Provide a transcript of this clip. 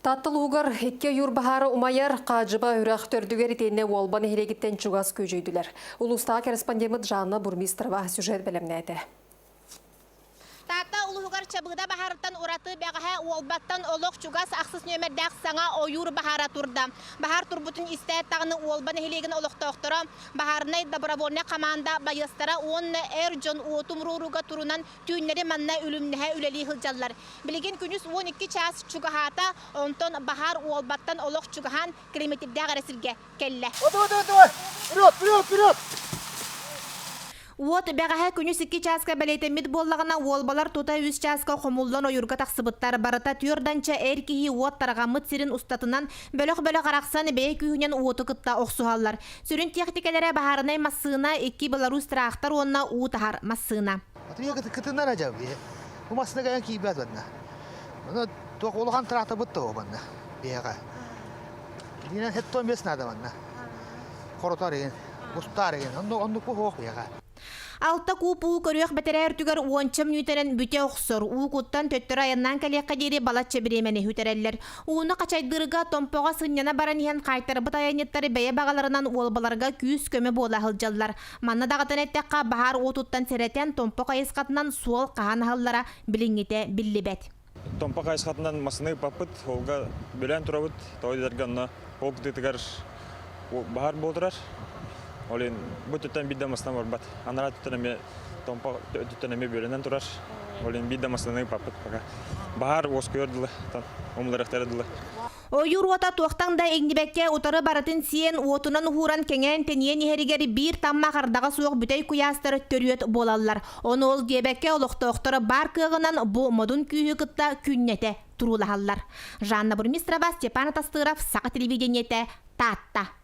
Тааттал уһугар икки ойуур баһаары умайар Хаадьыба үрэх төрдүгэр итиэннэ Уолба нэһилиэгиттэн чугас күөдьөйдүлэр. Улуустааҕы корреспондеммыт Жанна Бурмистрова сюжет бэлэмнээтэ. Таатта улуһугар Чабыыда баһаарыттан ураты бэҕэһээ Уолбаттан олох чугас ахсыс нүөмэрдээх саҥа ойуур баһаара турда. Баһаар турбутун истээт даҕаны Уолба нэһилиэгин олохтоохторо, баһаарынай добровольнай хамаанда байыастара уонна эр дьон уотум руорууга турунан Түүннэри манна үлүмнэһэ үлэлии сылдьаллар. Билигин күнүс уон икки чаас чугаһаата, онтон баһаар уолбаттан олох чугаһаан Кремительдээх эрэ сиргэ кэллэ. Уот бэҕэһээ күнүс икки чааска бэлиэтэммит буоллаҕына, уолбалар тута үс чааска хомуллан ойуурга тахсыбыттар. Барыта түөрданча эр киһи уот тарҕаммыт сирин устатынан бөлөх-бөлөх арахсан бэйэ күүһүнэн уоту кытта охсуһаллар. Сүрүн тиэхтикэлэрэ баһаарынай массыына, икки беларусь тыраахтар уонна уу таһар массыына. Атыыга кытыннара дьэ бу массыына кайдан киирбэт банна. Ону туох улахан траахтарбыт того банна биһиэхэ. Иннинен хеттон бес наада банна. Хоротар ин, устар ин, оннук оннук бу хоох биһиэхэ. Алта куп уу көрүөх бэтэрээ үрдүгэр уонча мүнүүтэрэн бүтэ охсор. Уу куттан төттөрү айаннаан кэлиэххэ диэри балачча бириэмэни үтэрэллэр. Ууну хачайдыырга Томпоҕо сынньана баран иһэн хаайтарбыт айанньыттары бэйэ баҕаларынан уолбаларга күүс-көмө буола сылдьаллар. Манна даҕатан эттэххэ, баһаар уотуттан сэрэтэн Томпо хайысхатынан суол хаһан аһаллара билиҥҥитэ биллибэт. Томпо хайысхатынан массыына ыыппаппыт, олга бүлээн турабыт, тойдаларга онно ол кытыытыгар баһар буола турар. Ол иһин бу өттүттэн биир да массыына барбат. Анараа өттүттэн эмиэ Томпо өттүттэн эмиэ бүөлэнэн турар. Ол иһин биир да массыынаны ыыппаппыт пока. Баһаар уоскуйар дылы, умуларыахтара дылы. Ойуур уота туохтан да иҥнибэккэ утары барытын сиэн, уотунан уһууран кэҥээн тэнийэн иһэригэр биир таммах ардаҕа суох бүтэй куйаастар төрүөт буолаллар. Ону ол диэбэккэ олохтоохторо баар кыаҕынан бу модун күүһү кытта күннэтэ туруулаһаллар. Жанна Бурмистрова, Степан Атастыров, Саха телевидениете, Таатта.